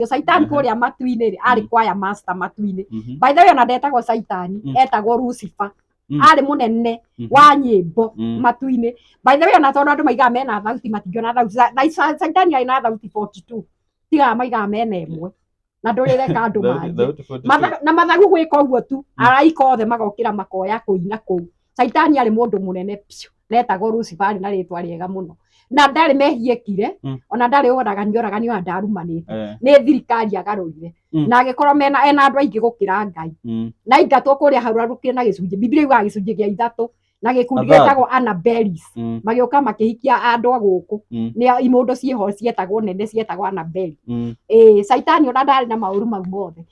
ũcio caitani Mhm. kũrĩa matu-inĩ rĩ arĩ Mhm. kwaya master matu-inĩ Mhm. by the way ona ndetagwo caitani Mhm. etagwo lucifer Mhm. arĩ mũnene Mhm. wa nyĩmbo Mhm. matu-inĩ by the way ona tondũ andũ maigaga mena thauti matingĩona thauti Ca- na Ca- caitani arĩ na thauti 42 tigaga maigaga mena ĩmwe na ndũrĩreka andũ Thauti- marie thauti 42. Matha- na mathagu gwĩka ũguo tu araika othe magokĩra makoya kũina kũu Caitani arĩ mũndũ mũnene biũ na etagwo Lucifer na rĩtwa rĩega mũno na ndarĩ mehia ekire Mm. ona ndarĩ oragani oragani ona ndarumanĩte Eh, nĩ thirikari agarũrire Mm. na agĩkorwo mena ena andũ aingĩ gũkĩra Ngai mm. na aingatwo kũrĩa hararũkire na gĩcunjĩ Biblia yugaga gĩcunjĩ gĩa ithatũ na gĩkundi Athari. gĩtagwo Anabelis Mm, magĩũka makĩhikia andũ a gũkũ Mm. nĩ imũndũ ciĩho cietagwo nene cietagwo Anabeli mm. ĩĩ caitani ona ndarĩ na maũru mau mothe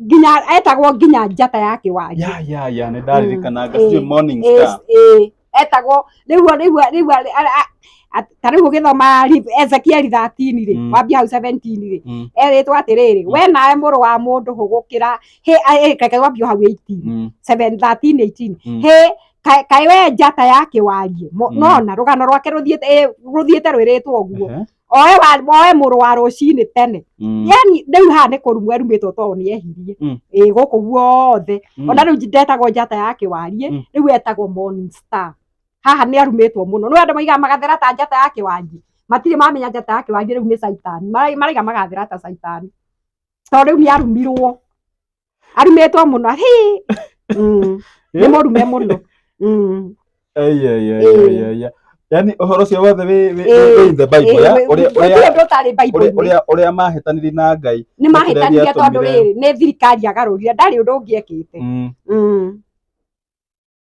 nginya etagwo nginya njata ya kĩwanja ya ya ya nĩ ndaririkana Mm, gaciĩ eh, morning Eh, star eh, etagwo rĩu rĩu rĩu a- a- a- a- ta rĩu ũgĩthoma Ri- ezekieli 13 rĩ Mm. wambia hau 17 rĩ Mm, erĩtwo atĩrĩrĩ Mm. we nawe mũrũ wa mũndũ hũgũkĩra hĩ a- ĩ, reke wambio hau 18 mm, 7 13 18 Mm. hĩ ka- kaĩ we njata ya kĩwarie Mo- Mm. nona rũgano rwake rũthiĩte ĩ, rũthiĩte rwĩrĩtwo ũguo ehe, oe wa- oe mũrũ wa rũcinĩ tene Mm. yani rĩu haha nĩ kũrumwo erumĩtwo tondũ nĩ ehirie Mm. ĩ gũkũ guothe Mm. ona rĩu ndetagwo njata ya kĩwarie Mm. rĩu etagwo morning star haha nĩ arumĩtwo mũno nĩ andũ maiga magathera ta njata ya kĩwangi matirĩ mamenya njata ya kĩwangi rĩu nĩ caitani Mara- maraiga magathera ta caitani tondũ rĩu nĩ arumirwo arimĩtwo mũno hi Mm. nĩ mũrume mũno Mm. Aya, aya, aya, Ĩĩ. aya, aya. yaani ũhoro ũcio wothe wĩ- wĩ- Ĩĩ. wĩ in the Bible, Ĩĩ, ya? wĩ- Ũrĩa- gũtirĩ ũrĩa- ũndũ ũtarĩ ũrĩa- Bible-inĩ. ũrĩa- ũrĩa mahĩtanirie na ngai nĩ mahĩtanire gĩatũmire- tondũ rĩrĩ nĩ thirikari yagarũrire ndarĩ ũndũ ũngĩekĩte Mm. Mm.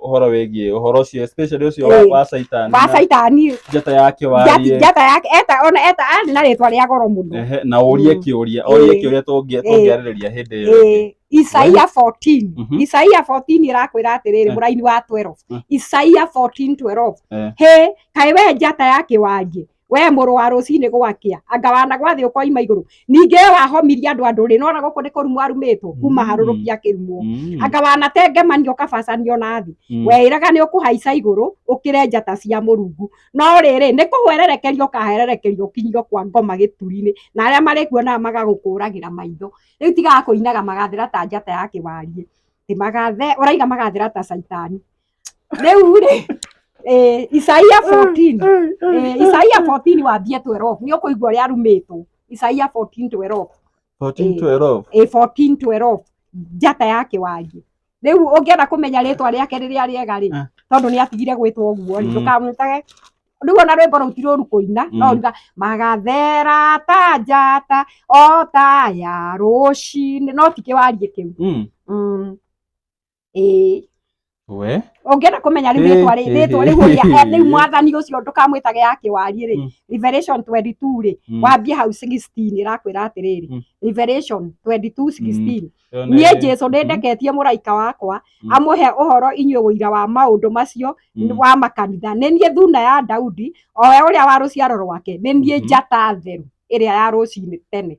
ũhoro wĩgiĩ ũhoro ũcio especially ũcio wa- Eh, wa caitani wa na caitani njata yake njati- warie njata yake eta ona eta arĩ na rĩtwa rĩa goro mũno Ehe, na ũrie Mm. kĩũria ũrie Eh. kĩũria tũngĩ- Eh. tũngĩarĩrĩria hĩndĩ ĩyo ĩngĩ. Eh, isaia 14 Mhm. isaia 14 ĩrakwĩra atĩrĩrĩ Eh. mũraini wa 12 Eh. isaia 14 12 Eh. he kaĩ we njata ya kĩwanjĩ we mũrũ wa rũcinĩ gwakĩa anga wanagwathĩ ũkoima igũrũ ningĩ we wahomirie andũ a ndũrĩrĩ nona gũkũ nĩ kũrumwo arumĩtwo kuma Mm. harũrũki akĩrumwo Mm. anga wanatengemanio kabacanio na thĩ Mm. weĩraga nĩ ũkũhaica igũrũ ũkĩre njata cia mũrungu no rĩrĩ nĩ kũhwererekeria ũkahererekeria ũkinyio kwa ngoma gĩturi-inĩ na arĩa marĩkuonaga magagũkũragĩra maitho rĩu tigaga kũinaga magathĩra ta njata ya kĩwariĩ Ĩ magathe ũraiga magathĩra ta caitani rĩu rĩ eh, isaia 14 eh, isaia 14 wambie 12 nĩ ũkũigua ũrĩa arumĩtwo isaia 14 12 14 12 eh, 14 12 njata yake wangĩ rĩu ũngĩenda kũmenya rĩtwa rĩake rĩrĩa rĩega rĩ Ah. tondũ nĩ atigire gwĩtwo ũguo rĩ Mm. ndũkamwĩtage rĩu ona rwĩmbo rũu ti rũru kũina no Mm. ruga magathera ta njata o ta ya rũcinĩ no ti kĩwarie kĩu Mm. Mm. ĩĩ we ũngĩenda kũmenya rĩu Hĩ, rĩtwa rĩ- hĩ, rĩtwa hĩ, rĩu ũrĩa hĩ. rĩu mwathani ũcio ndũkamwĩtage ya kĩwariĩ rĩ Mm. revelation 22 rĩ Mm. wambie hau 16 ĩrakwĩra atĩrĩrĩ Mm. revelation 22 16 Yo nĩ- niĩ jesu nĩ Mhm. ndeketie mũraika wakwa Mm. amũhe ũhoro inyuĩ ũira wa maũndũ macio Mm. wa makanitha nĩ niĩ thuna ya daudi o we ũrĩa wa rũciaro rwake nĩ niĩ Mhm. njata theru ĩrĩa ya rũcinĩ tene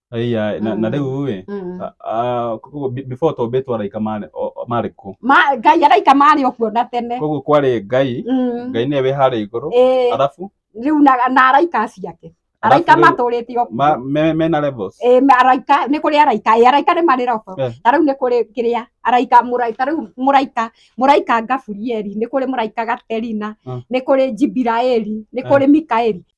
Aya, na, na Mm. rĩu rĩ Mm. a- a- koguo be- before tombĩtwo araika marĩ o- o- marĩ kũ Ma- ngai araika marĩ o kuona tene koguo kwarĩ ngai Mm. ngai nĩwe wĩ harĩa igũrũ Ĩĩ, arabu rĩu na na araika acio ake araika Arabu rĩu- matũrĩte o ma- kuo me- mena levels Ĩĩ, ma- araika nĩ kũrĩ araika ĩĩ, araika nĩ marĩ robo Eh. ta rĩu nĩ kũrĩ kĩrĩa araika mũrai- ta rĩu mũraika mũraika gaburieli nĩ kũrĩ mũraika gaterina Mm. nĩ kũrĩ jibiraeli nĩ Eh. kũrĩ mikaeli